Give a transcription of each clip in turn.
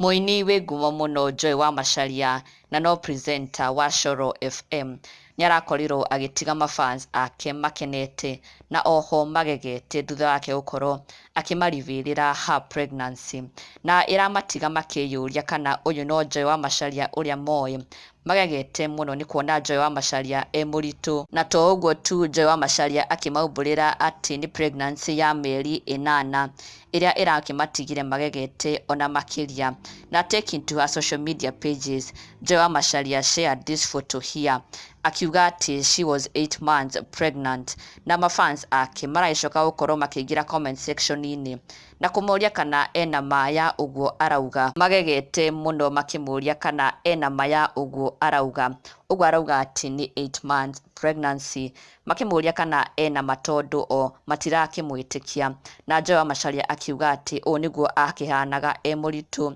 Mũini wĩ ngumo mũno Joy wa Macharia na no presenter wa Coro FM nĩarakorirwo agĩtiga mafans ake makenete na oho magegete thutha wake gũkorwo akĩmarivĩrĩra her pregnancy na ĩramatiga makĩyũria kana ũyũ no Joy wa Macharia ũrĩa moĩ. Magegete mũno nĩ kuona Joy wa Macharia e mũritũ. Na to ũguo tu, Joy wa Macharia akĩmaumbũrĩra atĩ nĩ pregnancy ya mĩeri ĩnana, ĩrĩa ĩrakĩmatigire magegete o na makĩria. Na taking to her social media pages, Joy wa Macharia shared this photo here, akiuga atĩ she was eight months pregnant. na ma fans ake maragĩcoka gũkorwo makĩingĩra comment section inĩ na kũmoria kana ena ma ya ũguo arauga, magegete mũno makĩmũria kana ena ma ya ũguo arauga, ũguo arauga atĩ nĩ eight months pregnancy, makĩmũria kana ena ma tondũ o matirakĩmwĩtĩkia, na Joe amacaria akiuga atĩ ũũ nĩguo akĩhanaga e mũritũ,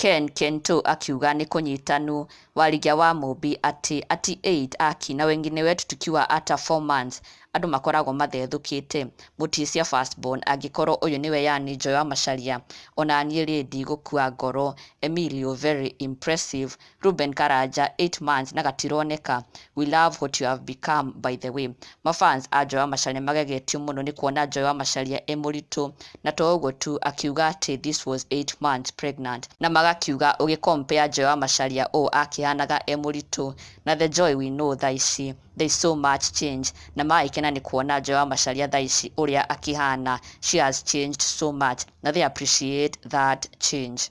Ken Kento akiuga ni kũnyitanu warĩgia wa mũmbi atĩ ati aid aki na wengine wetu tukiwa ata four months andũ makoragwo mathethũkĩte mũtiĩ cia first born angĩkorwo ũyũ nĩwe yani njoe wa macharia onaniĩ rĩ ndigũkua ngoro Emilio very impressive Reuben Karanja eight months na gatironeka We love what you have become by the way. Mafans a Joy wa Macharia nĩmagegetio mũno nĩ kuona Joy wa Macharia e mũritũ na to ũguo tu akiuga atĩ this was 8 months pregnant na magakiuga ũgĩ compare Joy wa Macharia ũũ akĩhanaga e mũritũ na the Joy we know thaa ici there is so much change na magĩkena nĩ kuona Joy wa Macharia thaa ici ũrĩa akĩhana she has changed so much na they appreciate that change.